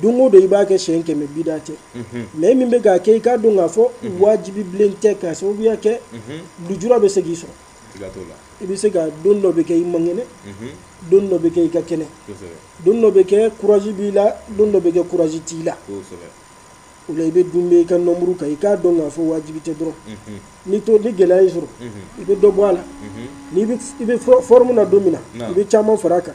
don o don i b'a kɛ siyɛn kɛmɛ bida tɛ mais min bɛ k'a kɛ i k'a dɔn k'a fɔ wajibi bilen tɛ ka sababuya kɛ lujura bɛ se k'i sɔrɔ i bɛ se ka don dɔ bɛ kɛ i man kɛnɛ don dɔ bɛ kɛ i ka kɛnɛ don dɔ bɛ kɛ kuraji b'i la don dɔ bɛ kɛ kuraji t'i la o la i bɛ don bɛɛ i ka nɔmuru kan i k'a dɔn k'a fɔ wajibi tɛ dɔrɔn ni to ni gɛlɛya y'i sɔrɔ i bɛ dɔ bɔ a la i bɛ fɔrɔmu na don min na i bɛ caman fara a kan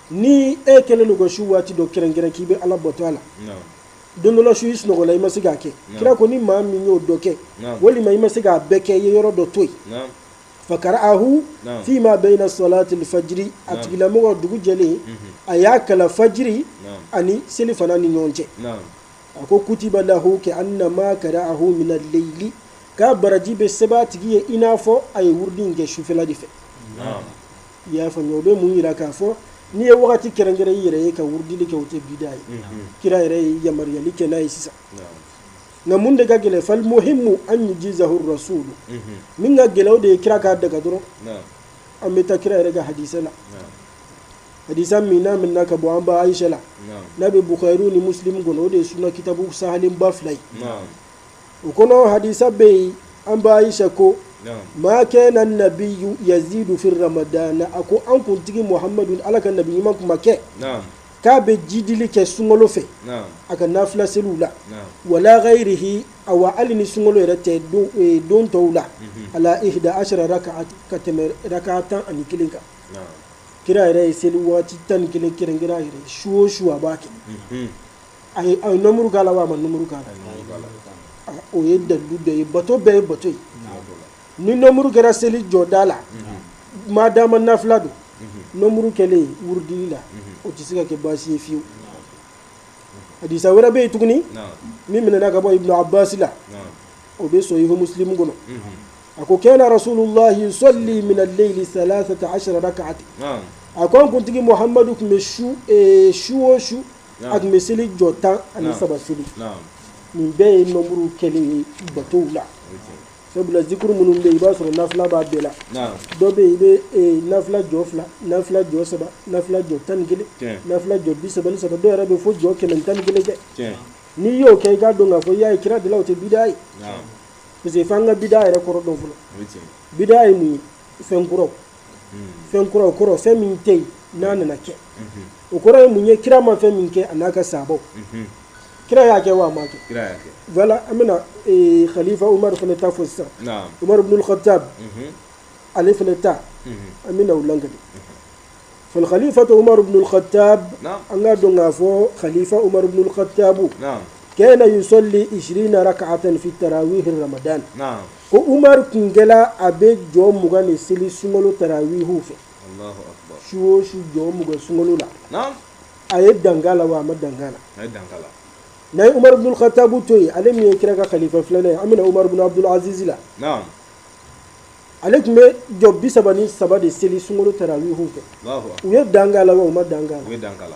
ni e kɛlen don ka su waati dɔ kɛrɛnkɛrɛn k'i bɛ ala bato a la don dɔ la su i sunɔgɔla i ma se k'a kɛ kira ko ni maa min y'o dɔ kɛ walima i ma se k'a bɛɛ kɛ i ye yɔrɔ dɔ to yen fakara ahu fi ma bayina salatili fajiri a tigilamɔgɔ dugu jɛlen a y'a kalan fajiri ani selifana ni ɲɔgɔn cɛ a ko kutiba lahu ka annama kara ahu mina leyili k'a baraji bɛ sɛbɛn a tigi ye i n'a fɔ a ye wurudi in kɛ sufɛla de fɛ i y'a faamuya o bɛ mun jira k'a fɔ n'i ye wagati kɛrɛnkɛrɛn i yɛrɛ ye ka wurudili kɛ o tɛ bida ye kira yɛrɛ ye yamaruyali kɛ n'a ye sisan nka mun de ka gɛlɛn falimuhimu an yujizahu rasulu min ka gɛlɛn o de ye kira k'a daga dɔrɔn an bɛ taa kira yɛrɛ ka hadisa la hadisa min minɛna ka bɔ an ba ayisa la n'a bɛ bukari ni musilimu kɔnɔ o de ye sunna kitabu sahalenba fila ye u kɔnɔ hadisa bɛ yen an ba ayisa ko ma kana nabiyu yazidu fi ramadana a ko an kuntigi muhamadu ala ka nabi ɲuman kun ma kɛ k'a bɛ jidili kɛ sunkolo fɛ a ka nafila seliw la wala gayirihi awa hali ni sunkolo yɛrɛ tɛ don tɔw la ala ihida asara raka ka tɛmɛ raka tan ani kelen kan kira yɛrɛ ye seli waati tan ni kelen kɛrɛnkɛrɛn a yɛrɛ su o su a b'a kɛ A ye a ye nomuru k'a la wa a ma nomuru k'a la? A ye nomuru k'a la. Aa o ye dalilu dɔ ye bato bɛɛ ye bato ye. Unhun. Ni nomuru kɛra seli jɔda la. Unhun. Maa dama nafila don. Unhun. Nomuru kɛlen wurudili la. Unhun. O tɛ se ka kɛ baasi ye fewu. Hadisa wɛrɛ bɛ yen tuguni. Naamu. Min minɛna ka bɔ Ibn Abbas la. Naamu. O bɛ Sohihu Musilimu kɔnɔ. Unhun. A ko kana rasululahi yusalli minal leyili salasata asara rakati. Naamu. A ko an kuntigi Muhamadu tun bɛ su ee su o su a tun bɛ seli jɔ tan ani saba seli nin bɛɛ ye nɔmuruw kɛlen ye batow la sabula zikuru minnu bɛ i b'a sɔrɔ nafila b'a bɛɛ la dɔ bɛ i bɛ nafila jɔ fila nafila jɔ saba nafila jɔ tan ni kelen nafila jɔ bi saba ni saba dɔw yɛrɛ bɛ fɔ jɔ kɛmɛ tan ni kelen kɛ n'i y'o kɛ i k'a dɔn k'a fɔ i y'a ye kira de la o tɛ bida ye parce que f'an ka bida yɛrɛ kɔrɔ dɔn fɔlɔ bida ye mun ye fɛn kura fɛn kura o kɔrɔ fɛn min tɛ yen n'a nana kɛ o kɔrɔ ye mun ye kira ma fɛn min kɛ a n'a ka sabaw kira y'a kɛ wa a m'a kɛ kira y'a kɛ voilà an bɛna ee, khalifa umaru fana ta fɔ sisan naam umaru bin al-khattab Mhm. ale fana ta Mhm. an bɛna o lakali fal khalifatu umaru bin al-khattab naam an k'a dɔn k'a fɔ khalifa umaru bin al-khattabu naam kana yusalli 20 rak'atan fi tarawih ramadan naam Ko Umaru tun kɛla a bɛ jɔ mugan de seli sunkalo tarawiihu fɛ, Alahu akbar, su o su jɔ mugan sunkalo la, naamu, a ye dan k'a la wa a ma dan k'a la? A ye dan k'a la. N'an ye Umaru bun Katabu to yen, ale min ye kira ka kalifa filanan ye, an bɛna Umaru bun Abudul Azizi la, naamu, ale tun bɛ jɔ bi saba ni saba de seli sunkalo tarawiihu fɛ, Alahu akbar, u ye dan k'a la wa u ma dan k'a la? U ye dan k'a la.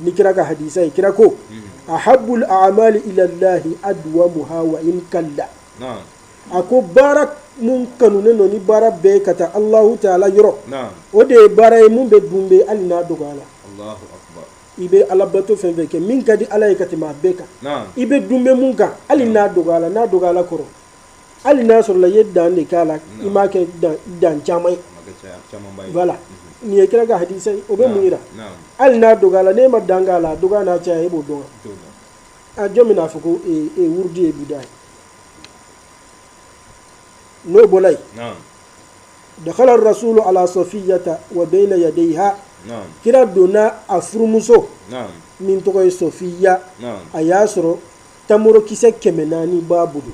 ni kira ka hadisa ye kira ko ahabbul a'mali ilallahi adwamuha wa in qalla a ko baara mun kanunen don ni baara bɛɛ ka taa alahu taala yɔrɔ o de ye baara ye mun bɛ dunbɛ hali n'a dɔgɔyala i bɛ alabato fɛn fɛn kɛ min ka di ala ye ka tɛmɛ a bɛɛ kan i bɛ dunbɛ mun kan hali n'a dɔgɔyala n'a dɔgɔyala kɔrɔ hali n'a sɔrɔla i ye dan de k'a la i m'a kɛ dan caman ye voilà nin ye kira ka hadisa ye o bɛ mun jira hali n'a dɔgɔyala ne ma dan k'a la dɔgɔya n'a caya e b'o dɔn a jɔn bɛn'a fɔ ko wurudi ye bida ye n'o bɔra yen dakhala rasulu ala safiyata wa bayna yadayha kira donna a furumuso min tɔgɔ ye sofiya a y'a sɔrɔ tamarokisɛ kɛmɛ naani b'a bolo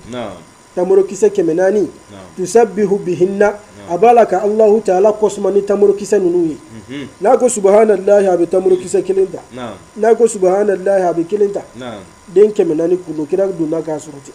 tamarokisɛ kɛmɛ naani tusabbihu bihinna a b'a la ka alahu taala kosman ni tamarokisɛ ninnu ye n'a ko subahanallahi a bɛ tamarokisɛ kelen ta n'a ko subahanallahi a bɛ kelen ta den kɛmɛ naani kɔnɔ kira donna k'a sɔrɔ ten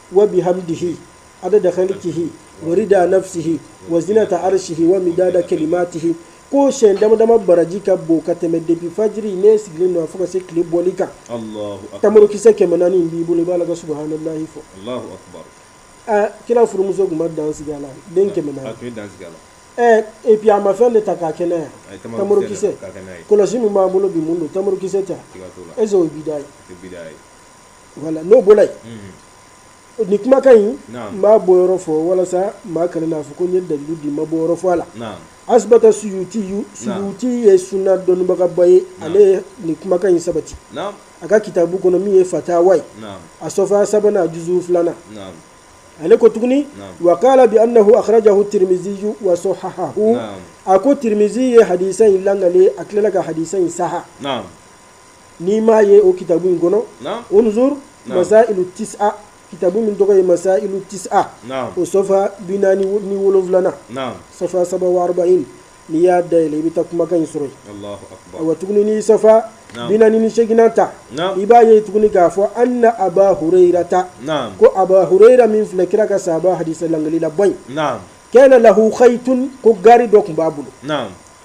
wa bihamdihi adada khalqihi wa rida nafsihi wa zinata arshihi wa midada kalimatihi ko siyɛn dama dama baraji ka bon ka tɛmɛ depuis fajiri n'e sigilen don fo ka se tile bɔli kan tamarokisɛ kɛmɛ naani in b'i bolo i b'a la ka subahanallahi fɔ kira furumuso tun ma dan sigi a la den kɛmɛ naani ɛɛ et puis a ma fɛn de ta k'a kɛ n'a ye tamarokisɛ kɔlɔsi min b'an bolo bi mun don tamarokisɛ tɛ est ce que o ye bida ye voilà n'o bɔra yen nin kumakan in n b'a bɔyɔrɔ fɔ walasa maa kana n'a fɔ ko n ye dalilu di n m'a bɔyɔrɔ fɔ ala asbata suyuti suyuti ye suna dɔnnibagaba ye ale nin kumakan in sabati a ka kitabu kɔnɔ min ye fatawa ye a sɔfa sabanan a juzu filanan ale ko tuguni wa qala bi annahu akhrajahu tirmizi wa sahhahahu a ko tirmizi ye hadisa in lakali a tilala ka hadisa in saha n'i m'a ye o kitabu in kɔnɔ unzur masailu tis'a kitabu min tɔgɔ ye masailu tis'a o sɔfa bi naani ni wolonfilana safa saba in n'i y'a da yɛlɛ i bɛ taa kumakan in sɔrɔ yen wa tugunin safa bi naani ni seginna ta i b'a ye tuguni k'a fɔ anna aba hureyirata ko aba hureyira min filɛ kira ka sahaba hadisi lagalilaba in kana lahu khaytun ko gari dɔ tun b'a bolo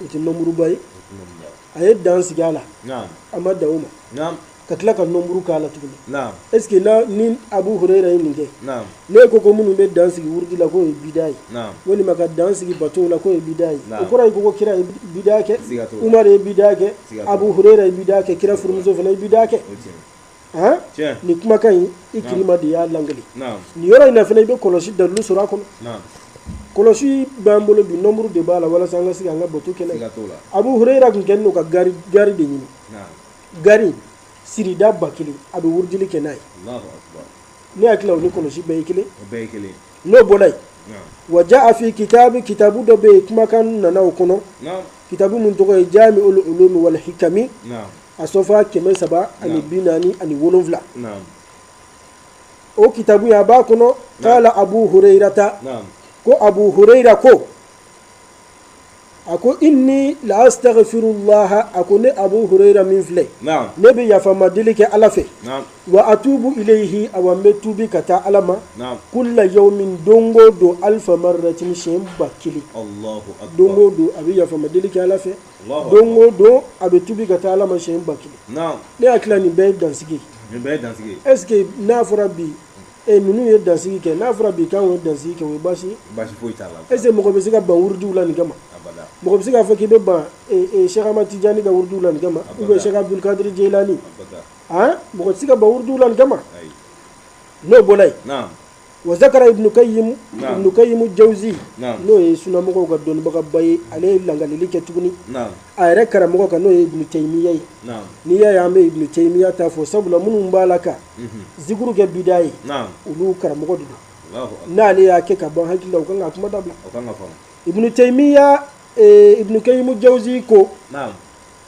o tɛ nɔmuruba ye a ye dan sigi a la a ma dan o ma ka tila ka nɔmuru k'a la tuguni est ce que ni abu hureyira ye nin kɛ ne ko ko minnu bɛ dan sigi wurudi la k'o ye bida ye walima ka dan sigi bato la k'o ye bida ye o kɔrɔ ye ko kira ye bida kɛ Umar ye bida kɛ abu hureyira ye bida kɛ kira furumuso fana ye bida kɛ ni kumakan in ikrima de y'a lagali ni yɔrɔ in fana i bɛ kɔlɔsi dalilu sɔrɔ a kɔnɔ kɔlɔsi b'an bolo bi nɔmuru de b'a la walasa an ka se an ka bato kɛ n'a ye abu hureyira tun kɛ n'u ka gari gari de ɲini gari sirida ba kelen a bɛ wurudili kɛ n'a ye ne hakili la o ni kɔlɔsi bɛɛ ye kelen n'o bɔra yen wa jaa fi kitabi kitabu dɔ bɛ yen kumakan nana o kɔnɔ kitabu min tɔgɔ ye jamiul ulumi wal hikami a sɔfa kɛmɛ saba ani bi naani ani wolonwula o kitabu ye a b'a kɔnɔ qala abu hureyirata ko abu hureyira ko a ko inni la astaghfirullaha a ko ne abu hureyra min filɛ ne bɛ yafama deli kɛ ala fɛ wa atubu ilayhi awa n bɛ tubi ka taa ala ma kulla yawmin dongo don alfa marratin siɲɛ ba kelen dongo don a bɛ yafama deli kɛ ala fɛ dongo don a bɛ tubi ka taa ala ma siɲɛ ba kelen ne hakili nin bɛɛ ye dansigi est ce que n'a fɔra bi e ninnu ye dansigi kɛ n'a fɔra bi k'an ye dansigi kɛ o ye baasi est ce que mɔgɔ bɛ se ka ban wurudiw la nin kama mɔgɔ bɛ se k'a fɔ k'i bɛ ban sɛk ahmad tijani ka wurudiw la nin kama ou bien sɛk abudul kadiri jeyilani mɔgɔ tɛ se ka ban wurudiw la nin kama n'o bɔra yen wa zakara ibnu kayimu jawuzi n'o ye sunamɔgɔw ka dɔnnibagaba ye ale ye lagali kɛ tuguni a yɛrɛ karamɔgɔ kan n'o ye ibnu tayimiya ye n'i y'a ye an bɛ ibnu tayimiya ta fɔ sabula minnu b'a la ka zikuru kɛ bida ye olu karamɔgɔ de don n'ale y'a kɛ ka ban hakili la u kan ka kuma dabila ibnu tayimiya ibnu kayimu jawuzi ko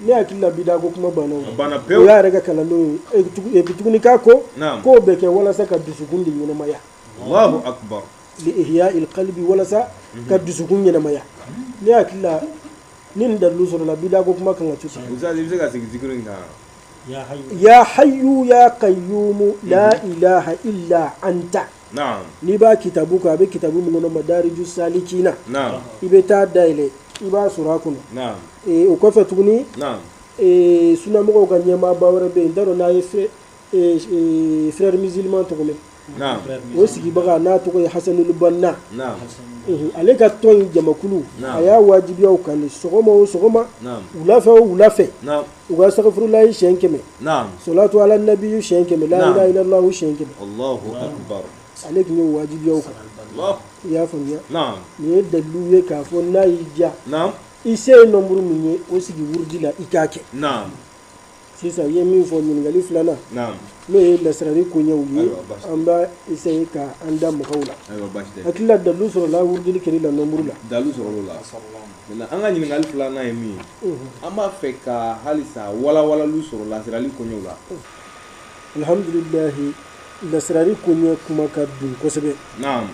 ne hakili la bida ko kuma banna o banna pewu o y'a yɛrɛ ka kalandenw ye et puis tuguni k'a ko k'o bɛ kɛ walasa ka dusukun de ɲɛnamaya Allahu akbar li ihya il qalbi walasa mhm. ka dusukun ɲɛnamaya ne hakili la ni nin dalilu sɔrɔla bida ko kuma kan ka to sa Ustaz i bɛ se ka segin zikiri in kan ya hayyu ya qayyumu la mhm. ilaha illa anta n'i b'a kitabu kan a bɛ kitabu min kɔnɔ Madariju salikina i bɛ taa a dayɛlɛ i b'a sɔrɔ a kɔnɔ o kɔfɛ tuguni sunamɔgɔw ka ɲɛmaaba wɛrɛ bɛ yen n t'a dɔn n'a ye frère musulman tɔgɔ mɛn o sigibaga n'a tɔgɔ ye Hasanul Banna ale ka tɔn in jamakulu a y'a wajibiya u kan de sɔgɔma o sɔgɔma wulafɛ o wulafɛ u ka astaghfirullahi siyɛn kɛmɛ naam salatu ala nabiyu siyɛn kɛmɛ Naam. la ilaha illallahu siyɛn kɛmɛ allahu akbar ale tun y'a wajibiya u kan allah i y'a faamuya naam nin ye dalilu ye k'a fɔ n'a y'i diya naam i se ye nombre min ye o sigi wurudi la i k'a kɛ naam sisan i ye min fɔ ɲininkali filanan naam n'o ye lasirali koɲɛw ye Ayiwa, basi. an b'a essayer ka an da mɔgɔw la ayiwa baasi tɛ hakili la dalilu sɔrɔla wurudili kɛli la nombre la dalilu sɔrɔla o la maintenant an ka ɲininkali filanan ye min ye an b'a fɛ ka halisa walawalaliw sɔrɔ lasirali koɲɛw la alhamdulilahi lasirali koɲɛ kuma ka bon kosɛbɛ naam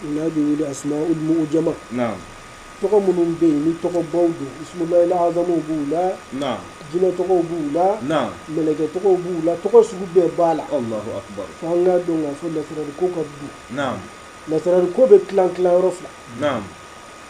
n'a bɛ wele asmaul mu'jama naam tɔgɔ minnu bɛ yen ni tɔgɔbaw don ismullahil azamu b'u la naam jinɛ tɔgɔw b'u la naam mɛlɛkɛ tɔgɔw b'u la tɔgɔ sugu bɛɛ b'a la allahu akbar fo an k'a dɔn k'a fɔ lasirali ko ka bon naam lasirali ko bɛ tilan tilan yɔrɔ fila naam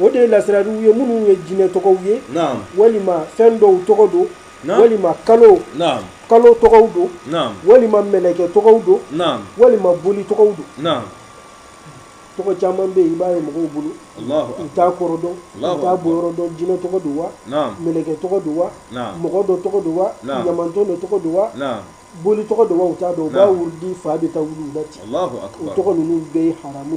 o de ye lasiraliw ye minnu ye jinɛ tɔgɔw ye walima fɛn dɔw tɔgɔ don walima kalo kalo tɔgɔw don walima mɛlɛkɛ tɔgɔw don walima boli tɔgɔw don tɔgɔ caman bɛ yen i b'a ye mɔgɔw bolo u t'a kɔrɔ dɔn u t'a bɔyɔrɔ dɔn jinɛ tɔgɔ don wa mɛlɛkɛ tɔgɔ don wa mɔgɔ dɔ tɔgɔ don wa ɲamantɔn dɔ tɔgɔ don wa boli tɔgɔ don wa u t'a dɔn u b'a wurudi fa bɛ taa wuli u la ten o tɔgɔ ninnu bɛɛ ye haramu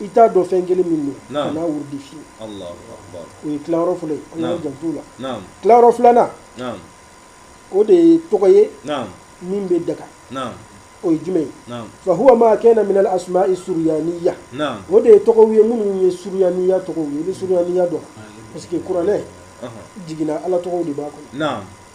i t'a dɔn fɛn kelen min don kana a wurudi fewu o ye tilayɔrɔ fɔlɔ ye an k'an janto o la tilayɔrɔ filanan o de ye tɔgɔ ye min bɛ daga o ye jumɛn ye fa huwa ma kana min al asma'i suryaniyya o de ye tɔgɔw ye minnu ye suryaniyya tɔgɔw ye i bɛ suryaniyya dɔn parce que kuranɛ jiginna ala tɔgɔw de b'a kɔnɔ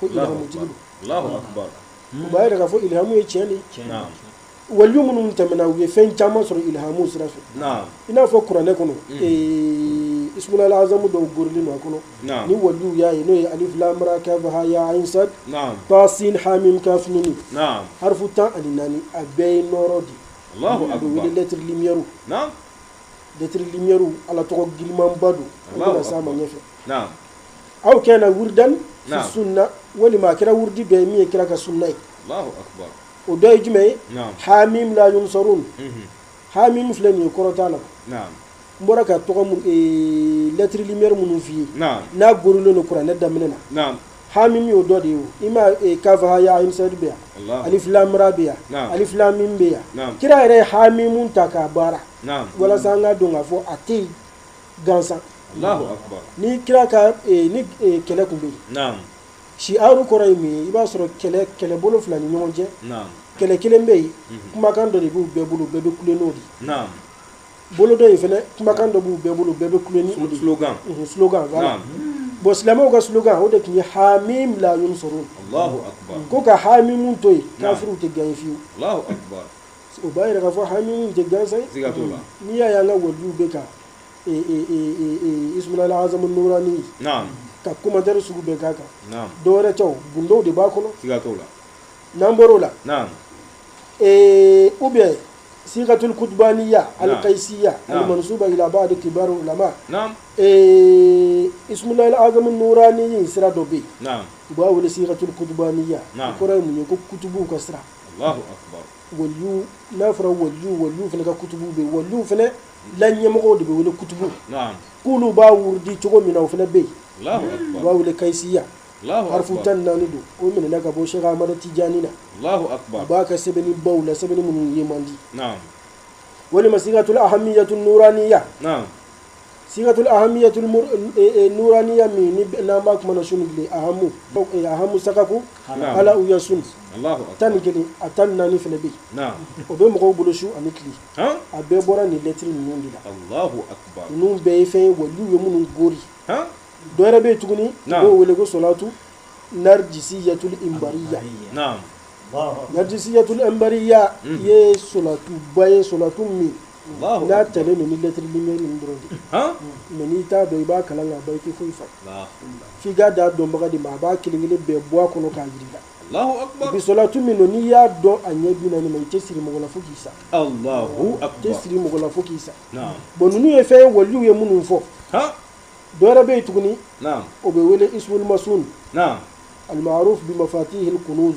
ko ilhamu tigi u b'a yira k'a fɔ ilhamu ye tiɲɛ de ye waliyu minnu tɛmɛna u ye fɛn caman sɔrɔ ilhamu sira fɛ i n'a fɔ kuranɛ kɔnɔ mm. ismullahil azamu dogolen b'a kɔnɔ ni waliw y'a ye n'o ye alif lam ra kaf ha ya ain sad ta sin ha mim kaf nun harfu tan ani naani a bɛɛ ye nɔɔrɔ de a bɛ wele lettre lumière lettre lumière ala tɔgɔ girinmanba don an bɛna s'a ma ɲɛfɛ aw kana wurdan sunna walima a kɛra wurudi ye min ye kira ka sunna ye o dɔ ye jumɛn ye hamim la yunsarun hamim filɛ nin ye kɔrɔ t'a la n bɔra ka lettre lumière minnu f'i ye n'a gorilen don kuranɛ daminɛ na hamim y'o dɔ de ye ma kaf ha ya ain sad bɛ yan alif lam ra bɛ yan alif lam mim bɛ yan kira yɛrɛ ye hamimu ta k'a baara walasa an k'a dɔn k'a fɔ a tɛ yen gansan ni kira ka ni kɛlɛ tun bɛ yen shi'aru kɔrɔ ye mun ye i b'a sɔrɔ kɛlɛbolo fila ni ɲɔgɔn cɛ kɛlɛ kelen bɛ yen kumakan dɔ de b'u bɛɛ bolo bɛɛ bɛ kule n'o de ye bolo dɔ in fana kumakan dɔ b'u bɛɛ bolo bɛɛ bɛ kule n'o de ye slogan bon silamɛw ka slogan o de tun ye hamim la yunsarun ko ka hamimu to yen kafiriw tɛ gagner fiyewu O b'a jira k'a fɔ hamimu tɛ gansan ye, siga t'o la, n'i y'a ye an ka waliyuw bɛ ka ismulaahi azamu nuuraani, naamu, ka commentaire sugu bɛɛ k'a kan, naamu, dɔ wɛrɛ tɛ o gundow de b'a kɔnɔ, siga t'o la, n'an bɔr'o la, naamu, ee ou bien sigatul kutubaniya alikayisiya alimansuba ila baadi kibari ulama, naamu, ee ismulaahi azamu nuuraani sira dɔ bɛ yen, naamu, u b'a wele sigatul kutubaniya, naamu, o kɔrɔ ye mun ye ko kutubuw ka sira Alahu akbar waliyu n'a fɔra waliyu waliyu fana ka kutubu bɛ yen waliyu fana la ɲɛmɔgɔw de bɛ wele kutubu naam k'olu b'a wurudi cogo min na o fana bɛ yen Alahu akbar u b'a wele kayisiya Alahu akbar harifu tan ni naani don o minɛna ka bɔ Sɛki Amadu Tijani na Alahu akbar a b'a ka sɛbɛnni baw la sɛbɛnni minnu ye man di naam walima sigatul ahamiyatul nuraniya naam sigatul ahamiyatul nuraniya min ni n'an b'a kuma na sunu bilen ahamu sakaku hala u yasun tan ni kelen a tan ni naani fana bɛ yen o bɛ mɔgɔw bolo su ani tile a bɛɛ bɔra nin lɛtiri ninnu de la ninnu bɛɛ ye fɛn ye waliw ye minnu gori dɔ wɛrɛ bɛ yen tuguni u b'o wele ko solatu narijisiyatul imbariya narijisiyatul imbariya ye solatuba ye solatu min n'a talen don ni lettre lumière ninnu dɔrɔn de mɛ n'i t'a dɔn i b'a kalan k'a ban i tɛ foyi fa f'i k'a da dɔnbaga de ma a b'a kelen kelen bɛɛ bɔ a kɔnɔ k'a jir'i la bi solatu min don n'i y'a dɔn a ɲɛ bi naani ma i tɛ siri mɔgɔ la fo k'i sa i tɛ siri mɔgɔ la fo k'i sa bon ninnu ye fɛn ye waliw ye minnu fɔ dɔwɛrɛ bɛ yen tuguni o bɛ wele ismul masun almaruf bi mafatihil kunuz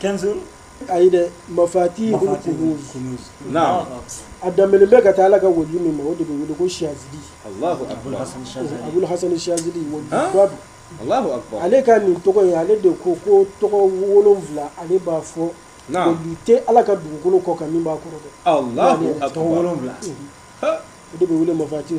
kɛnsin ayi dɛ mafatihul kunuz a danbelen bɛ ka taa ala ka waliju min ma o de bɛ wele ko shazili abul hasan shazili walijuba don ale ka nin tɔgɔ in ale de ko ko tɔgɔ wolonwula ale b'a fɔ waliju tɛ ala ka dugukolo kɔ kan min b'a kɔrɔ dɛ o de bɛ wele mafati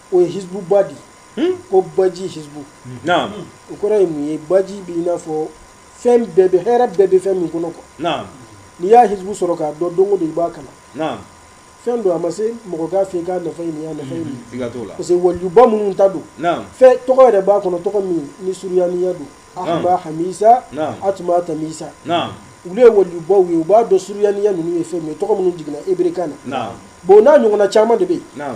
o ye hizbu bahri ko baji hizbu o kɔrɔ ye mun ye baji b'i n'a fɔ fɛn bɛɛ bɛ hɛrɛ bɛɛ bɛ fɛn min kɔnɔ ko n'i y'a hizbu sɔrɔ k'a dɔn don de i b'a kalan fɛn don a ma se mɔgɔ k'a fɔ k'a nafa ye nin ye parce que walijuba minnu ta don fɛn tɔgɔ yɛrɛ b'a kɔnɔ tɔgɔ min ni suruyaniya don ahma hamisa atuma tamisa olu ye walijubaw ye u b'a dɔn suruyaniya ninnu ye fɛn min ye tɔgɔ minnu jiginna eberekan na bon n'a ɲɔgɔnna caman de bɛ yen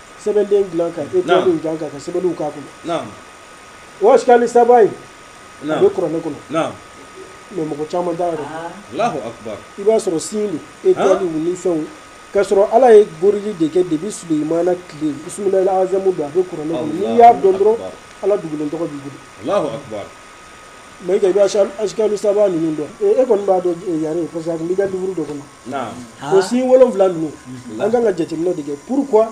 sɛbɛnden dilan ka étoile in dilan ka sɛbɛnniw k'a kɔnɔ o ashkali saba in a bɛ kuranɛ kɔnɔ mɛ mɔgɔ caman t'a yɛrɛ dɔn i b'a sɔrɔ sin don étoile ni fɛnw k'a sɔrɔ ala ye goroli de kɛ depuis sulemana tile bisimilahi azamu don a bɛ kuranɛ kɔnɔ n'i y'a dɔn dɔrɔn ala dugulen tɔgɔ b'i bolo mɛ i bɛ ashkali saba ninnu dɔn e kɔni b'a dɔn yɛrɛ ye parce que a b'i ka liburu dɔ kɔnɔ o sin wolonwula ninnu an kan ka jateminɛ de kɛ pourquoi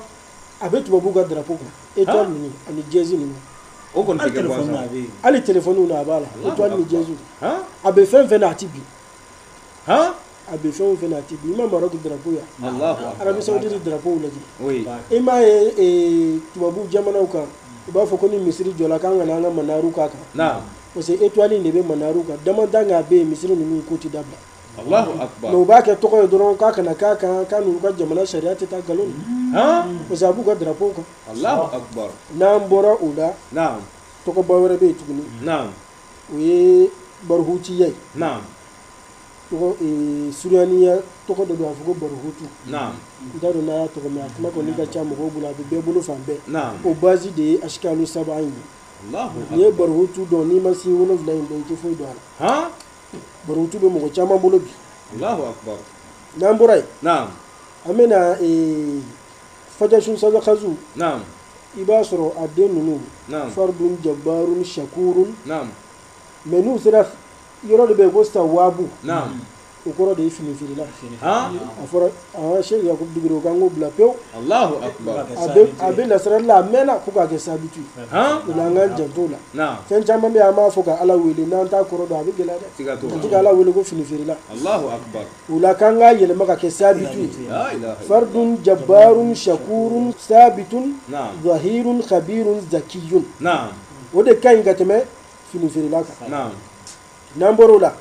a bɛ tubabuw ka darapo kan étoile ninnu ani dièse ninnu o kɔni hali téléphone na a b'a la étoile ni dièse a bɛ fɛn fɛn na a tɛ bin a bɛ fɛn fɛn na a tɛ bin i ma Maroc darapo ye Arabie Saoudite darapo lajɛ i m'a ye tubabu jamanaw kan u b'a fɔ ko ni misiri jɔla k'an kana an ka manaru k'a kan parce que étoile in de bɛ manaru kan dama dan' a bɛ yen misiri ninnu ko tɛ dabila u b'a kɛ tɔgɔ ye dɔrɔn k'a kana k'a kan k'a n'u ka jamana sariya tɛ taa nkalon a b'u ka darapo kan n'an bɔra o la tɔgɔba wɛrɛ bɛ yen tuguni o ye barohutiya ye suruyaniya tɔgɔ dɔ don a fɔ ko barohutu n t'a dɔn n'a y'a tɔgɔ mɛn a kuma kɔni ka ca mɔgɔw bolo a bɛ bɛɛ bolo fan bɛɛ o basi de ye ashkali saba in ye n'i ye barohutu dɔn n'i ma sin wolonwula in dɔn i tɛ foyi dɔn a la barohutu bɛ mɔgɔ caman bolo bi n'an bɔra yen an bɛna fajashun sazakazu i b'a sɔrɔ a den ninnu fardun jabarun shakurun mɛ n'u sera yɔrɔ de bɛ yen ko sawabu o kɔrɔ de ye fini feerela a fɔra aa sheikh yakubu digiro k'an k'o bila pewu a bɛ lasirari la a mɛnna ko k'a kɛ sabitu o la an k'an janto la fɛn caman bɛ yen an b'a fɔ ka ala wele n'an t'a kɔrɔ dɔn a bɛ gɛlɛya dɛ tɛ ka ala wele ko fini feerela o la k'an k'a yɛlɛma ka kɛ sabitu fardun jabarun shakurun sabitun zahirun khabirun zakiyun o de ka ɲi ka tɛmɛ fini feerela kan n'an bɔra o la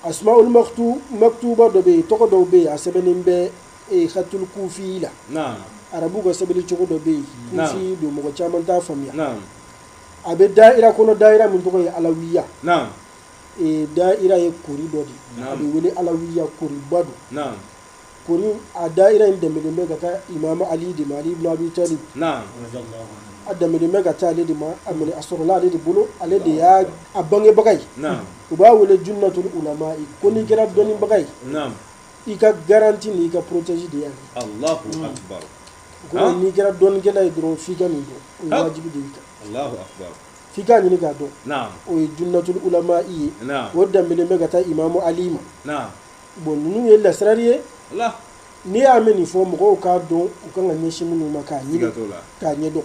asmaul maktuba dɔ bɛ yen tɔgɔ dɔw bɛ yen a sɛbɛnnen bɛ khatul kufi la arabu ka sɛbɛnni cogo dɔ bɛ yen kufi don mɔgɔ caman t'a faamuya a bɛ daira kɔnɔ daira min tɔgɔ ye alawiya daira ye kori dɔ de a bɛ wele alawiya koriba don kori a daira in danbelen bɛ ka taa imamu ali de ma ali ibn abi talib a danbelen bɛ ka taa ale de ma a a sɔrɔla ale de bolo ale de y'a bangebaga ye u b'a wele junnatul ulama ko n'i kɛra dɔnnibaga ye i ka garanti ni i ka porotesi de yan n'i kɛra dɔnnikɛla ye dɔrɔn f'i ka nin dɔn o ye wajibi de y'i kan f'i ka ɲini k'a dɔn o ye junnatul ulama i ye o danbelen bɛ ka taa imamu ali ma bon ninnu ye lasirari ye n'i y'a mɛn nin fo mɔgɔw k'a dɔn u ka kan ka ɲɛsin minnu ma k'a ɲini k'a ɲɛ dɔn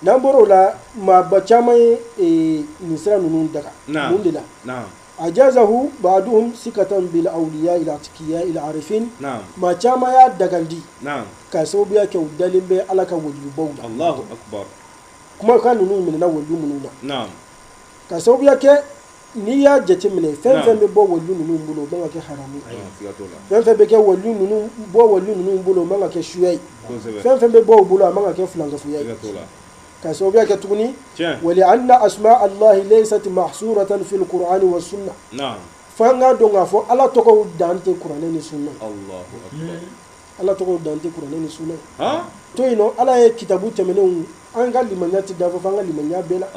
n'an bɔra o la maaba caman ye e, nin sira ninnu daga mun de la ajazahu baaduhum sikatan bil awliya il atqiya il arifin maa caman y'a dagandi ka sababuya kɛ u dalen bɛ ala ka waliyubaw la kumakan ninnu minɛna waliyu minnu na Ka sababuya kɛ n'i y'a jateminɛ fɛn fɛn bɛ bɔ waliyu ninnu bolo o man ka kɛ haramu fɛn fɛn bɛ kɛ bɔ waliyu ninnu bolo o man ka kɛ suya ye fɛn fɛn bɛ bɔ u bolo a man ka kɛ filankafoya ka sababuya kɛ tuguni wa li anna asma allahi laysat mahsuratan fil kurani wa sunna fo an k'a dɔn k'a fɔ ala tɔgɔw dan tɛ kuranɛ ni sunna ala tɔgɔw dan tɛ kuranɛ ni sunna to yen nɔ ala ye kitabu tɛmɛnenw an ka limaniya tɛ dafa fo an ka limaniya bɛɛ la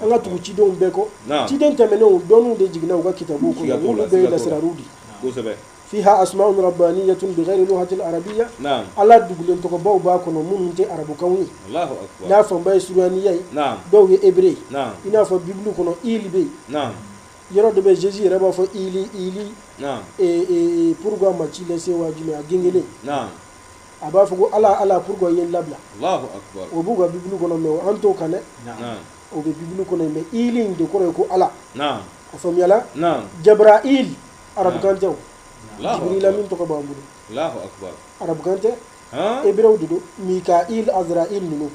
an ka tugu cidenw bɛɛ kɔ ciden tɛmɛnenw dɔnniw de jiginna u ka kitabu kɔnɔ n'olu bɛɛ ye lasirariw de ye fiha asmaun rabbaniyatun bighayri lughatil arabiyya ala dugulen tɔgɔbaw b'a kɔnɔ minnu tɛ arabukanw ye n'a fanba ye suruyaniya ye dɔw ye ebre ye i n'a fɔ bibulu kɔnɔ ili bɛ yen yɔrɔ dɔ bɛ jésus yɛrɛ b'a fɔ ili ili pourquoi m'as-tu laissé waati min a gengelen a b'a fɔ ko ala ala pourquoi i ye n labila o b'u ka bibulu kɔnɔ mɛ an t'o kan dɛ o bɛ bibulu kɔnɔ mɛ ili in de kɔrɔ ye ko ala a faamuyala jabrail arabukan tɛ o jibrila min tɔgɔ b'an bolo arabukan tɛ ebre de don mikail azrail ninnu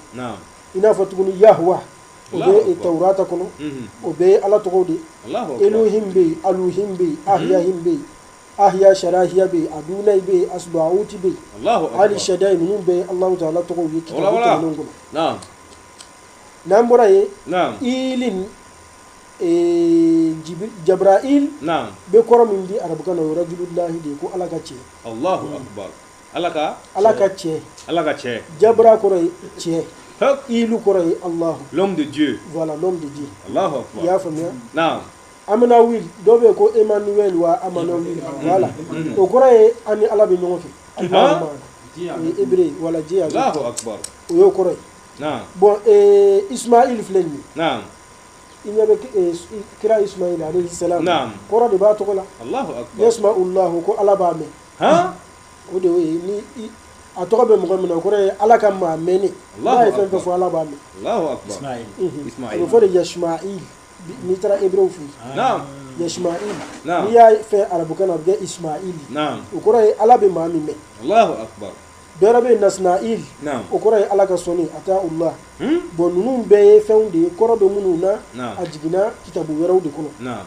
i n'a fɔ tuguni yahuwa o bɛ tawurata kɔnɔ o bɛɛ ye ala tɔgɔw de ye elohim bɛ yen aluhim bɛ yen ahyahim bɛ yen ahya sharahiya bɛ yen adunai bɛ yen asbauti bɛ yen ali shadai ninnu bɛɛ ye alahu taala tɔgɔw ye kitabu tɛmɛnenw kɔnɔ n'an bɔra yen ilin jabrail bɛ kɔrɔ min di arabukan na o ye rajulullahi de ye ko ala ka cɛ ala ka ala ka cɛ ala ka cɛ jabra kɔrɔ ye cɛ ilu kɔrɔ ye alahu l'homme de dieu voilà l'homme de dieu alahu akbar i y'a faamuya naam amanawil dɔ bɛ ko emmanuel wa amanawil mm-hmm. voilà mm-hmm. o kɔrɔ ye an ni ala bɛ ɲɔgɔn fɛ alahu hébreu wala diya alahu akbar o y'o kɔrɔ ye naam bon eh, ismail filɛ nin ye naam i ɲɛ bɛ eh, kira ismail alayhi salam naam kɔrɔ de b'a tɔgɔ la alahu akbar yasma'u llahu ko ala b'a mɛn han o de y'o ye ni i- a tɔgɔ bɛ mɔgɔ min na o kɔrɔ ye ala ka maa mɛnni Allahu n'a ye fɛn o fɛn akbar. fɔ ala b'a mɛn Allahu akbar Ismaïl. Mhm. a Ismaïl. bɛ fɔ de yasma'il n'i taara hébreu fɛ yen Naam. yasma'il Naam. n'i y'a fɔ arabukan na a bɛ kɛ ismail Naam. o kɔrɔ ye ala bɛ maa min mɛn Allahu akbar dɔ wɛrɛ bɛ yen nasna'il Naam. o kɔrɔ ye ala ka sɔnni ata'ullah Hmm? bon ninnu bɛɛ ye fɛnw de ye kɔrɔ bɛ minnu na Naam. a jiginna kitabu wɛrɛw de kɔnɔ Naam.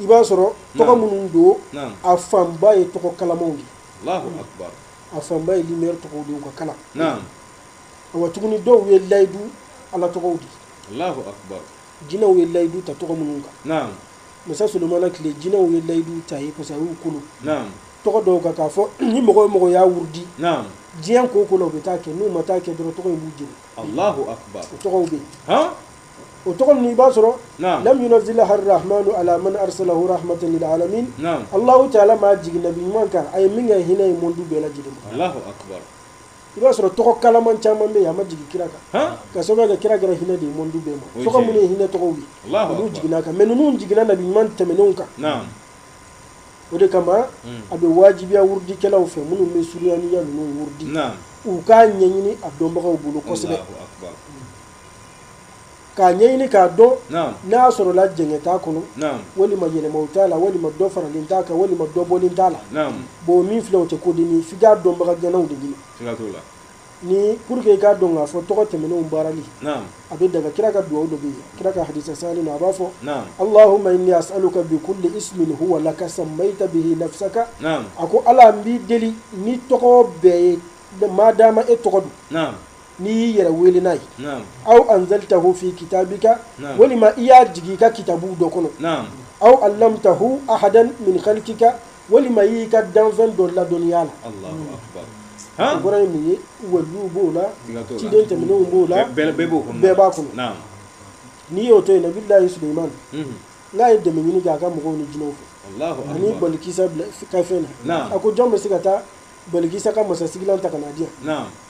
i b'a sɔrɔ tɔgɔ minnu don a fanba ye tɔgɔ kalamanw de a fanba ye lumière tɔgɔw de ye u ka kalan wa tuguni dɔw ye layidu ala tɔgɔw de jinɛw ye layidu ta tɔgɔ minnu kan masa sulemana tile jinɛw ye layidu ta ye parce que a y'u kolo tɔgɔ dɔw kan k'a fɔ ni mɔgɔ o mɔgɔ y'a wurudi diɲɛ ko o ko la u bɛ taa kɛ n'u ma taa kɛ dɔrɔn tɔgɔ in b'u jeni o tɔgɔw bɛ yen o tɔgɔ ninnu i b'a sɔrɔ Naam. lam yunazzilaha arrahmanu ala man arsalahu rahmatan lil alamin Naam. Allahu taala m'a jigin nabi ɲuman kan a ye min kɛ hinɛ ye mondu bɛɛ lajɛlen ma Allahu akbar. i b'a sɔrɔ tɔgɔ kalaman caman bɛ yen a ma jigin kira kan Han? ka sababu kɛ kira kɛra hinɛ de ye mondu bɛɛ O ma ye tɔgɔ tiɲɛ minnu ye. ye hinɛ tɔgɔw ye Allahu olu akbar. jiginna a kan mais ninnu jiginna nabi ɲuman tɛmɛnenw kan Naam. o de kama Mm. a bɛ wajibiya wurudikɛlaw fɛ minnu bɛ suruyaniya ninnu wurudi Naam. u k'a ɲɛɲini a dɔnbagaw bolo kosɛbɛ Allahu akbar. k'a ɲɛɲini k'a dɔn n'a sɔrɔla jɛngɛ t'a kɔnɔ walima yɛlɛmaw t'a la walima dɔ faralen t'a kan walima dɔ bɔlen t'a la bon min filɛ o tɛ ko dennin f'i k'a dɔnbaga ŋanaw de ɲini ni pour que i k'a dɔn k'a fɔ tɔgɔ tɛmɛnenw baarali a bɛ daga kira ka dugawu dɔ bɛ yen kira ka hadisa sahalen na a b'a fɔ Allahumma inni as'aluka bi kulli ismin huwa laka sammayta bihi nafsaka a ko Ala n b'i deli ni tɔgɔ bɛɛ ye maadaama e tɔgɔ don n'i y'i yɛrɛ wele n'a ye aw anzaltahu fi kitabika walima i y'a jigin i ka kitabu dɔ kɔnɔ aw allamtahu ahadan min khalqika walima y'i ka danfɛn dɔ ladɔnniya la o kɔrɔ ye mun ye waliw b'o la ciden tɛmɛnenw b'o la bɛɛ b'a kɔnɔ n'i y'o to yen nabilayi suleyiman n'a ye dɛmɛ ɲini kɛ a ka mɔgɔw ni jinɛw fɛ ani balikisa ka fɛn na a ko jɔn bɛ se ka taa balikisa ka masasigilan ta ka n'a di yan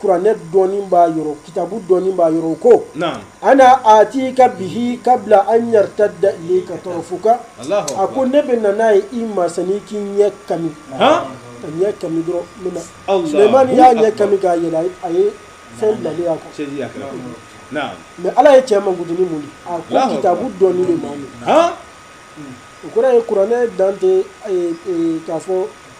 kuranɛ dɔnni b'a yɔrɔ kitabu dɔnni b'a yɔrɔ o ko ana atika bihi kabla an yartadda ilayka tɔrfuka a ko ne bɛ na n'a ye i ma sani k'i ɲɛ kami ka ɲɛ kami dɔrɔn min na sulemani y'a ɲɛ kami k'a yɛlɛ a ye fɛn bilalen a kan mɛ ala ye cɛ mankutu ni mun di a ko kitabu dɔnni bɛ maa min o kɔrɔ ye kuranɛ dan tɛ k'a fɔ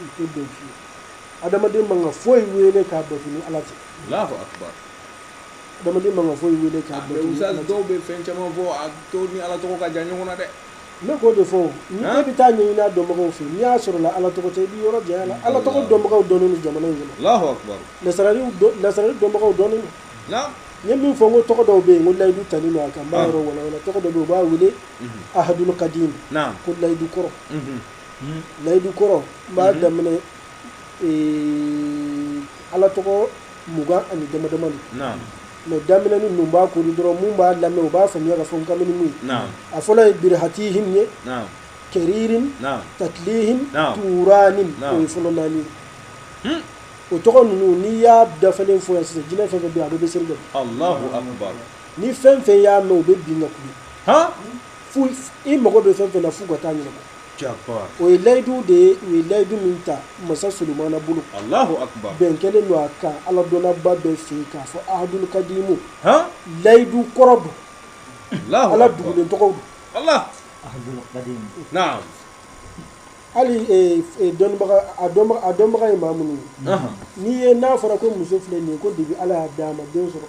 o tɛ bɛn fiyewu adamaden man ka foyi wele k'a bato ni ala tɛ adamaden man ka foyi wele k'a dɔw bɛ fɛn caman fɔ a to ni ala tɔgɔ ka jan ɲɔgɔn na dɛ ne k'o de fɔ ni e bɛ taa ɲɛɲini a dɔnbagaw fɛ n'i y'a sɔrɔ la ala tɔgɔ tɛ i b'i yɔrɔ janya la ala tɔgɔ dɔnbagaw dɔnnen don jamana in na lasarari dɔnbagaw dɔnnen don n ye min fɔ ko tɔgɔ dɔw bɛ yen ko layidu talen don a kan n b'a yɔrɔ walawala tɔgɔ dɔ bɛ yen u b'a wele ahadul kadim ko layidu kɔrɔ Hmm. layidu kɔrɔ n b'a hmm. daminɛ ala tɔgɔ mugan ani dama dama de mɛ daminɛ ninnu n b'a kori dɔrɔn minnu b'a lamɛn u b'a faamuya k'a fɔ n kamini min ye a fɔlɔ ye birihatihim ye kɛririn tatlihim turanin o ye fɔlɔ naani ye hmm. o tɔgɔ ninnu n'i y'a dafalen fɔ yan sisan jinɛ fɛn fɛn bɛ yen a bɛɛ bɛ seli dɛ ni fɛn fɛn y'a mɛn o bɛ bin ka kuli fo i mago bɛ fɛn fɛn na f'u ka t'a ɲɛnabɔ Allahu akbar. o ye layidu de ye u ye layidu min ta masa solomana bolo Allahu akbar. bɛn kɛlen don a kan ala dɔnnaba bɛɛ fɛ yen k'a fɔ ahadul kadimu Han. layidu kɔrɔ don Allahu ala akbar. dugulen tɔgɔw don Allah. ahadul qadim Naam. hali eh, eh, dɔnnibaga a dɔnba- a dɔnbaga ye maa minnu ye Ahan. n'i ye n'a fɔra ko muso filɛ nin ye ko kabi ala y'a d'a ma den sɔrɔ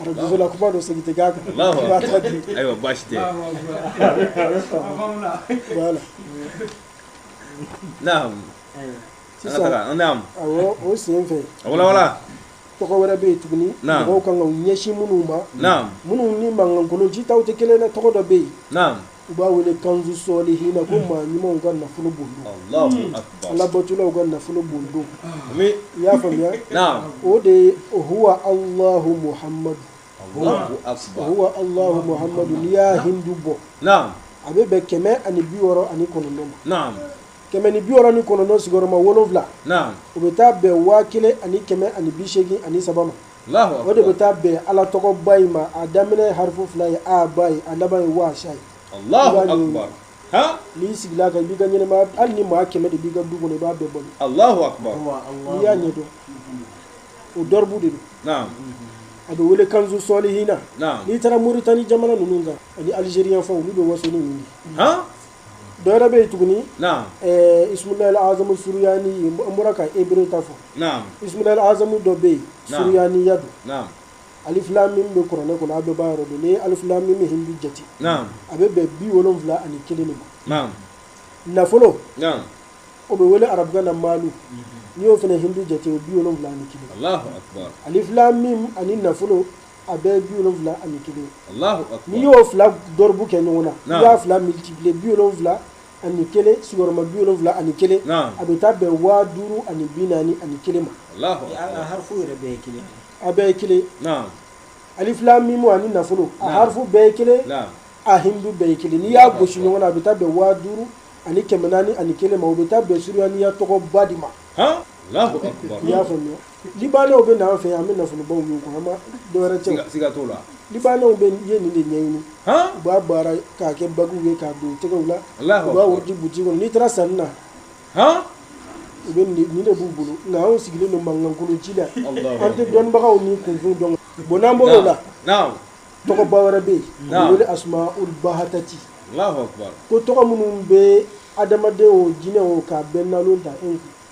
arajo la kuma don segin tɛ k'a kan ayiwa baasi tɛ sisan o sen fɛ wala tɔgɔ wɛrɛ bɛ yen tuguni mɔgɔw ka kan ka ɲɛsin minnu ma minnu ni mankankolo jitaw tɛ kelen tɔgɔ dɔ bɛ yen u b'a wele kanzu sɔlihina ko maa ɲumanw ka nafolo bon alabatolaw ka nafolo bon don i y'a faamuya o de ye huwa Allahu Muhammadu huwa Allahu Muhammadu n'i y'a hindu bɔ a bɛ bɛn kɛmɛ ani biwɔɔrɔ ani kɔnɔntɔn ma kɛmɛ ni biwɔɔrɔ ni kɔnɔntɔn sigiyɔrɔma wolonwula o bɛ taa bɛn waa kelen ani kɛmɛ ani bisegin ani saba o de bɛ taa bɛn ala tɔgɔba in ma a daminɛ harfu fila ye a ba ye a laban ye waasa ye n'i sigil'a kan i b'i ka ɲɛnamaya hali ni maa kɛmɛ de b'i ka du kɔnɔ i b'a bɛɛ balo n'i y'a ɲɛdɔn o dɔribu de don a bɛ wele kanzu sɔlihina n'i taara Moritani jamana ninnu kan ani Algérie fan olu bɛ waso ni ninnu dɔ wɛrɛ bɛ yen tuguni ismulahi azamu suruyani an bɔra ka hébreu ta fɔ ismulahi azamu dɔ bɛ yen suruyaniya don alif lam mim bɛ kuranɛ kɔnɔ a bɛɛ b'a yɔrɔ dɔn n'i ye alif lam mim hindu jate a bɛ bɛn bi wolonwula ani kelen de ma nafolo o bɛ wele arabukan na maalu n'i y'o fana hindu jate o bi wolonwula ani kelen alif lam mim ani nafolo A bɛɛ bi wolonwula ani kelen n'i y'o fila dɔribu kɛ ɲɔgɔn na n'i y'a fila multiplier bi wolonwula ani kelen sigiyɔrɔma bi wolonwula ani kelen a bɛ taa bɛn waa duuru ani bi naani ani kelen ma a bɛɛ ye kelen alif lam mim ani nafolo a harfu bɛɛ ye kelen a hindu bɛɛ ye kelen n'i y'a gosi ɲɔgɔn na a bɛ taa bɛn waa duuru ani kɛmɛ naani ani kelen ma o bɛ taa bɛn suruyaniya tɔgɔba de ma i y'a faamu Libanɛw bɛ na an fɛ yan an bɛ nafolobaw y'u kun u ma dɔwɛrɛ cɛ siga t'o la libanɛw bɛɛ ye nin de ɲɛɲini u b'a baara k'a kɛ baguw ye k'a don tɛgɛw la u b'a di butigi kɔnɔ n'i taara sanni na u bɛ nin de b'u bolo nka anw sigilen don mankankolo ci la an tɛ dɔnnibagaw ni kunfin dɔn bon n'an bɔr'o la tɔgɔba wɛrɛ bɛ yen u b'a wele asmaul bahatati ko tɔgɔ minnu bɛ adamaden o jinɛ o ka bɛn na ta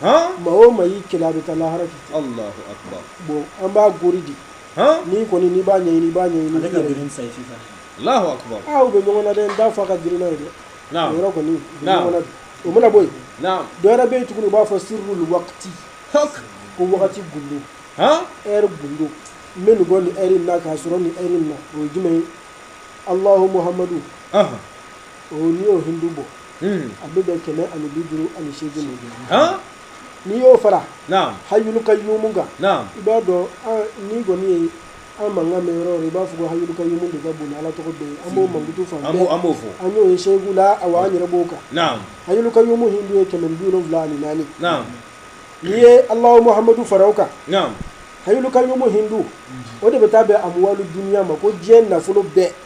maa o maa y'i kɛlɛ a bɛ taa lahara k'i to bon an b'a gori di n'i kɔni n'i b'a ɲɛ b'a ɲɛ u bɛ ɲɔgɔn na dɛ n t'a fɔ a ka girin n'a ye dɛ o yɔrɔ kɔni u bɛ ɲɔgɔn na dɛ o mana bɔ yen dɔ wɛrɛ bɛ yen tuguni u b'a fɔ sirrul waqti ko wagati gundo eri gundo n bɛ nin bɔ nin eri in na k'a sɔrɔ nin eri in na o ye jumɛn ye alahu muhamadu o n'i y'o hindu bɔ Hmm. a bɛ bɛn kɛmɛ ani bi duuru ani seegin de ma Han? n'i y'o fara Naam. hayulu kayumu kan Naam. i b'a dɔn n'i kɔni ye an mankan mɛn yɔrɔ o yɔrɔ i b'a fɔ ko hayulu kayumu de ka bon ni ala tɔgɔ bɛɛ ye an b'o mankutu fan An b'o- an b'o fɔ. an y'o ye seegu la awa an yɛrɛ b'o kan Naam. hayulu kayumu hindu ye kɛmɛ ni bi wolonwula ani naani Naam. n'i ye alahu muhamadu fara o kan Naam. hayulu kayumu hindu o de bɛ taa bɛn amuwalu duniya ma ko diɲɛ nafolo bɛɛ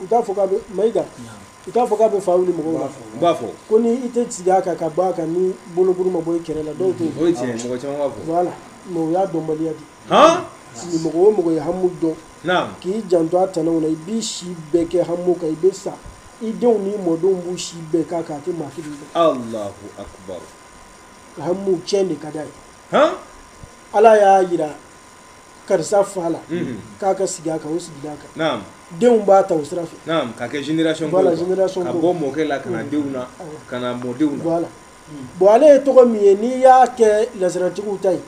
u t'a fɔ k'a bɛ Mayiga u t'a fɔ k'a bɛ fa wuli mɔgɔw la u b'a fɔ ko ni i tɛ sigi a kan ka bɔ a kan ni bolokuru ma bɔ i kɛrɛ la dɔw t'o fɔ o ye tiɲɛ ye mɔgɔ caman b'a fɔ voilà mais o y'a dɔnbaliya de han ni mɔgɔ o mɔgɔ ye hamu dɔn naam k'i janto a tanaw la i b'i si bɛɛ kɛ hamu kan i bɛ sa i denw n'i mɔdenw b'u si bɛɛ k'a kan a tɛ maa kelen dɔn allahu akbar hamu tiɲɛ de ka d'a ye han ala y'a jira karisa fa la k'a ka sigi a kan o sigila a kan denw b'a ta o sira fɛ ka kɛ ka bɔ mɔkɛ la ka na denw na ka na mɔdenw la bon ale ye tɔgɔ min ye n'i y'a kɛ lasaratigiw ta ye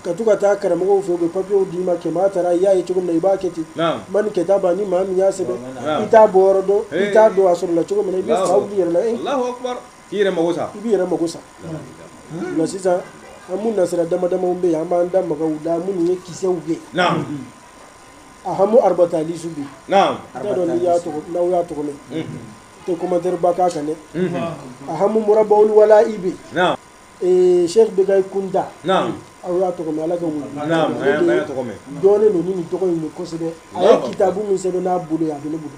ka to ka taa karamɔgɔ fɛ u bɛ papiyew d'i ma kɛmɛ taara i y'a ye cogo min na i b'a kɛ ten man ni kɛta ban ni maa min y'a sɛbɛn i t'a bɔyɔrɔ dɔn i t'a dɔn a sɔrɔla cogo min na i bɛ fa wuli yɛrɛ la k'i yɛrɛ mago sa i b'i yɛrɛ mago sa o la sisan ahamu nasira dama damaw bɛ yen an b'an da maga u la minnu ye kisɛw ye naam ahamu arabata alisu bi naam t'a dɔn n'i y'a tɔgɔ n'aw y'a tɔgɔ mɛn n tɛ commentaire ba k'a kan dɛ ahamu murabawul wala i bɛ naam ee sheikh bekayi kunta naam aw y'a tɔgɔ mɛn ala ka wuli naam an y'a- an y'a tɔgɔ mɛn dɔnnen don ni nin tɔgɔ in ye kosɛbɛ a ye kitabu min sɛbɛn n'a bolo ye a bɛ ne bolo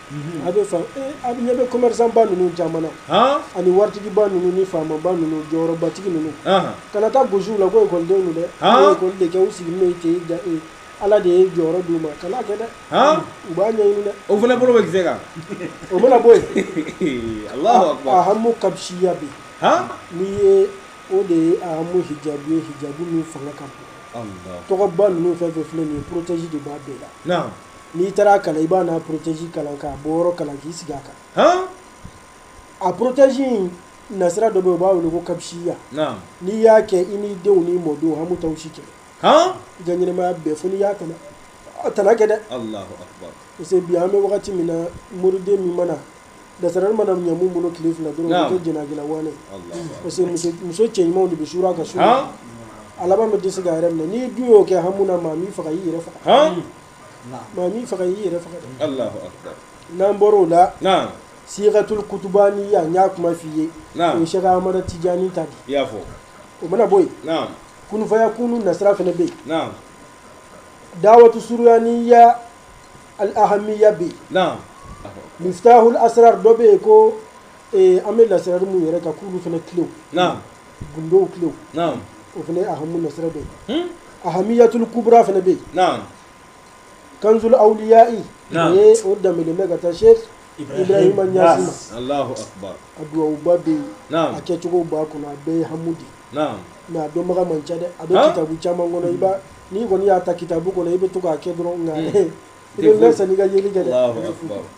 A bɛ faamu ee a ɲɛ bɛ commerçant ba ninnu caman na, han, ani waritigiba ninnu ni faamaba ninnu jɔyɔrɔbatigi ninnu, anhan, kana taa gosi u la ko école denw don dɛ, han, u ye école de kɛ u sigilen bɛ ten u dan ye Ala de ye jɔyɔrɔ d'u ma kana a kɛ dɛ, han, u b'a ɲɛɲini dɛ, o fana bolo bɛ kisɛ kan, o mana bɔ yen, Alahu akbar, ahamu kabsiya bɛ yen, han, n'i ye o de ye ahamu hijabu ye hijabu min fanga ka bon, Alahu akbar, tɔgɔba ninnu fɛn o fɛn filɛ nin ye protège de b'a bɛɛ la, naamu n'i taara a kalan i b'a n'a porotezi kalan k'a bɔyɔrɔ kalan k'i sigi a kan a porotezi in nasira dɔ bɛ u b'a wele ko kabisiya n'i y'a kɛ i n'i denw n'i mɔdenw hamu t'aw si kɛ janmaya bɛɛ fo n'i y'a kan'a tana kɛ dɛ parce que bi an bɛ wagati min na moriden min mana dasara mana ɲamu bolo tile fila dɔrɔn kɛ jɛnɛjɛla waɛ parce que muso cɛ ɲumanw de bɛ su ka su a laban bɛ dɛsɛ k'a yɛrɛ minɛ n'i dun y'o kɛ hamu na maa m'i faga i y'i yɛrɛ faga Maa m'i faga i y'i yɛrɛ faga n'an bɔra o la siigatul kutubaniya n y'a kuma f'i ye sheikh amadu tijaani ta de i y'a fɔ o mana bɔ yen kun fayakun nasira fana bɛ yen dawatu suryaniya alihamiya bɛ yen miftahul asrar dɔ bɛ yen ko ee an bɛ lasirali minnu yɛrɛ ka k'olu fana kilew naam gundow kilew naam o fana ye ahamu nasira dɔ ye hmm? ahamiyatul kubra fana bɛ yen naam kanzul awliya'i o ye o danbelen bɛ ka taa sheikh ibrahima ɲasi ma allahu akbar a duwawuba bɛ yen a kɛcogow b'a kɔnɔ a bɛɛ ye hamu de naam mɛ a dɔnbaga man ca dɛ a bɛ kitabu caman kɔnɔ i b'a n'i kɔni y'a ta kitabu kɔnɔ i bɛ to k'a kɛ dɔrɔn nka hmm. i bɛ mɛɛn sanni i ka yeli kɛ dɛ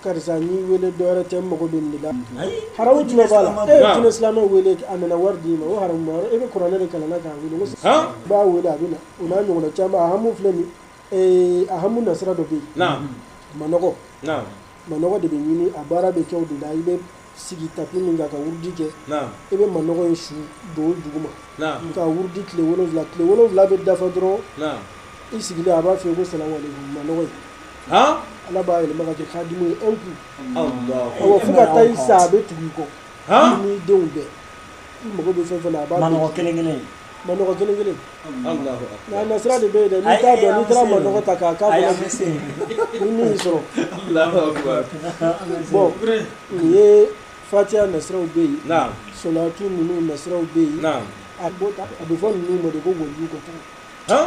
karisa n'i weele dɔwɛrɛ tɛ mago bɛ la haramu jumɛn b'a la jinɛ silamɛ weele a mana wari d'i ma o haramu e bɛ kuranɛ de kalan k'a weele b'a weele a bɛ na u n'a ɲɔgɔn caman ahamu filɛ nin ahamu nasira dɔ bɛ yen manɔgɔ manɔgɔ de bɛ ɲini a baara bɛ kɛ o de la i sigi tapi min kan ka wurudi kɛ i bɛ manɔgɔ in su don duguma ka wurudi tile wolonwula tile wolonwula bɛ dafa dɔrɔn i sigilen a b'a fɔ ko salamu alaikum manɔgɔ ye ala b'a yɛlɛma ka kɛ kadimu ye i kun awɔ fo ka taa i sa a bɛ tugu i kɔ n'i denw bɛɛ i mago bɛ fɛn fɛn na a b'a manɔgɔ kelen kelen Manɔgɔ kelen kelen nka nasira de bɛ yen dɛ n'i t'a dɔn n'i taara manɔgɔ ta k'a k'a kɔnɔ ni min y'i sɔrɔ bon nin ye fatiya nasiraw bɛ yen sɔlatu ninnu nasiraw bɛ yen a bɛ a bɛ fɔ ninnu ma de ko waliju ka kan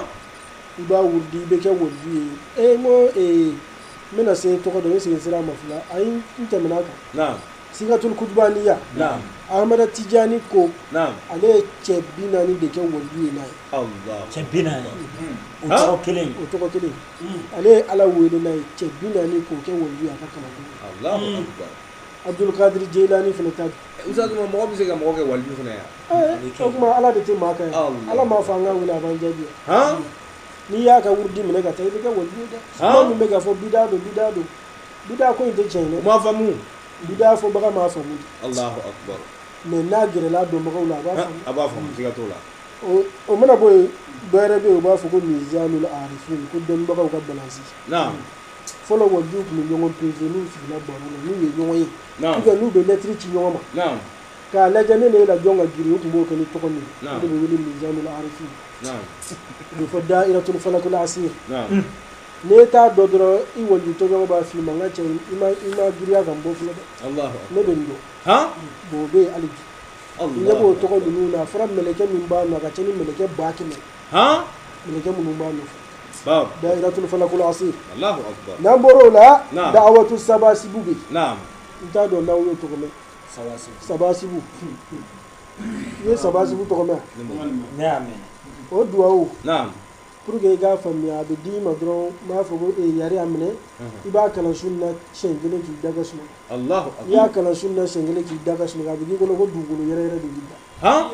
i b'a wurudi i bɛ kɛ waliju ye ee n ko ee n bɛna se tɔgɔ dɔn n bɛ segin sira ma fila ayi n tɛmɛna a kan sigatul kutubaniya naam ahamada tijani ko naam ale ye cɛ bi naani de kɛ waliyu ye n'a ye allah cɛ bi naani o Ha? tɔgɔ kelen o tɔgɔ kelen ale ye ala wele n'a ye cɛ bi naani k'o kɛ waliyu ye a ka kalanden ye. allahu akbar abdulkadir jeilani fana ta bi ustaz mais mɔgɔ bɛ se ka mɔgɔ kɛ waliyu fana ye o tuma ala de tɛ maa k'a ye Allah. ala m'a fɔ an k'a wele a b'an jaabi wa. han n'i y'a ka wurudi minɛ ka taa i bɛ kɛ waliyu ye dɛ Haa? maa minnu bɛ k'a fɔ bida don bida don bida ko in tɛ tiɲɛ ye u m'a famu bida fɔbaga m'a famu Allahu akbar mais n'a gɛrɛla dɔnbagaw la a b'a famu a b'a famu siga t'o la o mana bɔ yen dɔ wɛrɛ bɛ yen u b'a fɔ ko mizanul arifin ko dɔnnibagaw ka balansi naam fɔlɔ walijuw tun bɛ ɲɔgɔn peze n'u sigila baro la n'u ye ɲɔgɔn ye ou bien n'u bɛ lɛtiri ci ɲɔgɔn ma naam k'a lajɛ ne n'e la jɔn ka girin u tun b'o kɛ ni tɔgɔ min ye o de bɛ wele mizanul arifin naam o bɛ fɔ dairatul falakul asir naam n'e t'a dɔn dɔrɔn i waliju tɔɲɔgɔn b'a f'i ma n ka cɛ i ma i ma girinya ka n bɔ fɔlɔ dɛ Alahu ne bɛ nin dɔn han bon o bɛ yen hali bi Alahu ne b'o tɔgɔ ninnu na a fɔra mɛlɛkɛ min b'a nɔ a ka ca ni mɛlɛkɛ ba kɛmɛ han mɛlɛkɛ minnu b'a nɔfɛ bawo dayiratul falakul asir Alahu akibar n'an bɔr'o la Naam. da'awatu sabasibu bɛ yen naam n t'a dɔn n'aw y'o tɔgɔ mɛn Sabasi. sabasibu i ye sabasibu tɔgɔ mɛn wa? ne y'a mɛn o duwawu naam Pour que i k'a faamuya a bɛ d'i ma dɔrɔn n b'a fɔ ko yari a minɛ i b'a kalan su na siɲɛ kelen k'i da ka sunɔgɔ i y'a kalan su na siɲɛ kelen k'i da ka sunɔgɔ a bɛ k'i kɔnɔ ko dugukolo yɛrɛ yɛrɛ de b'i da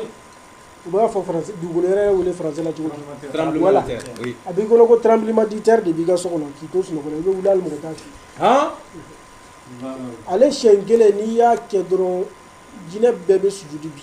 u b'a fɔ dugukolo yɛrɛ yɛrɛ wele français la cogo di tremblement de terre a b'i kɔnɔ ko tremblement de terre de b'i ka so kɔnɔ k'i to sunɔgɔ la i bɛ wuli hali mɔgɔ t'a f'i ye ale siɲɛ kelen n'i y'a kɛ dɔrɔn jinɛ bɛɛ bɛ sujudu bi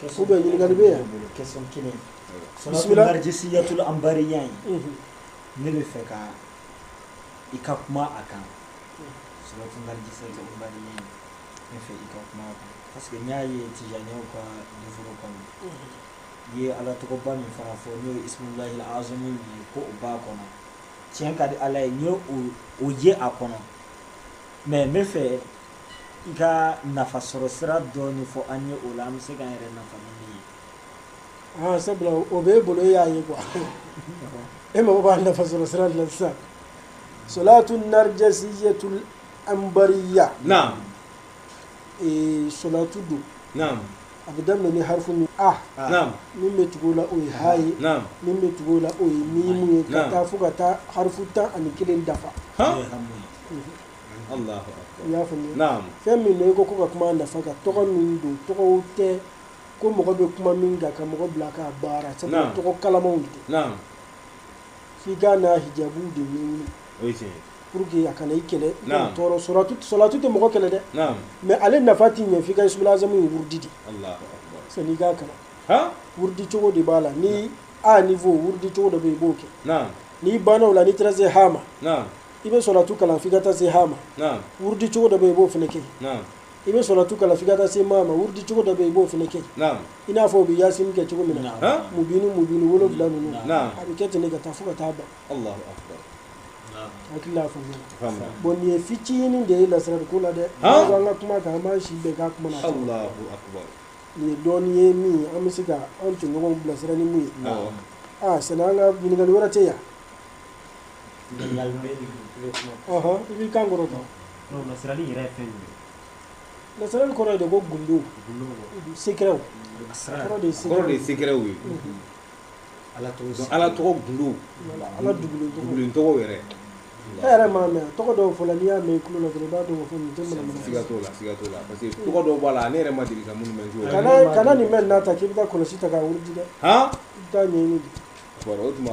Kɛ bɛ ɲininkakali bɛ yan kɛ kelen sumajisi yatula anbari ɲ ye ne bɛ fɛ ka i ka kuma a kan sumajisɛ ne fɛ i ka kuma kan parce que n y'a ye ci ɲɛ ka furu kɔnɔ i ye ala tɔgɔba min fara fɔ n'o ye ila az ye ko o ba kɔnɔ tiɲɛ ka di ala ye n o ye a kɔnɔ mɛ n bɛ fɛ I ka nafa sɔrɔ sira dɔɔni fɔ an ye o la an bɛ se k'an yɛrɛ nafa ni min ye sabula o bɛ e bolo e y'a ye quoi e mako b'a nafa sɔrɔ sira de la sisan solatu narjasiyatul anbariya solatu don a bɛ daminɛ ni harifu min a min bɛ tugu o la o ye ha ye min bɛ tugu o la o ye mimu ye ka taa fo ka taa harifu tan ani kelen dafa i y'a faamuya fɛn min don i ko ka kuma a nafa kan tɔgɔ min don tɔgɔw tɛ ko mɔgɔ bɛ kuma min kan ka mɔgɔ bila k'a baara sabula tɔgɔ kalamanw de don f'i k'a n'a hijabu de ɲɛɲini pour que a kana i kɛlɛ i kana tɔɔrɔ solatu tɛ mɔgɔ kɛlɛ dɛ mais ale nafa t'i ɲɛ f'i ka ismul azamu ye wurudi de san'i k'a kalan wurudi cogo de b'a la ni a niveau wurudi cogo dɔ bɛ yen i b'o kɛ n'i banna o la n'i taara se ha ma i bɛ solatu kalan fo i ka taa se ha ma wurudi cogo dɔ bɛ yen i b'o fana kɛ i bɛ solatu kalan f'i ka taa se ma ma wurudi cogo dɔ bɛ yen i b'o fana kɛ i n'a fɔ u bɛ yasin kɛ cogo min na mubini mubini wolo wolonwula ninnu a bɛ kɛ ten de ka taa fo ka taa ban hakili faamuya bon nin ye fitinin de ye lasirari ko la dɛ an ka kuma kan an b'an si bɛɛ k'a kuma na nin ye dɔɔnin ye min an bɛ se ka an tɔɲɔgɔnw bilasira ni min ye aa sani an ka ɲininkali wɛrɛ tɛ yan I b'i kan kɔrɔta lasirali yɛrɛ ye fɛn min ye lasirali kɔrɔ ye de ko gundow secrets de ye ala ala tɔgɔ gundo ala dogolen tɔgɔ yɛrɛ e yɛrɛ m'a mɛn tɔgɔ dɔw fɔla n'i y'a mɛn i tulo la dɔrɔn i b'a dɔn la parce que tɔgɔ dɔw b'a la ne yɛrɛ ma deli ka minnu mɛn kana nin mɛn n'a ta k'i bɛ taa kɔlɔsi ta k'a wurudi dɛ i taa ɲɛ o tuma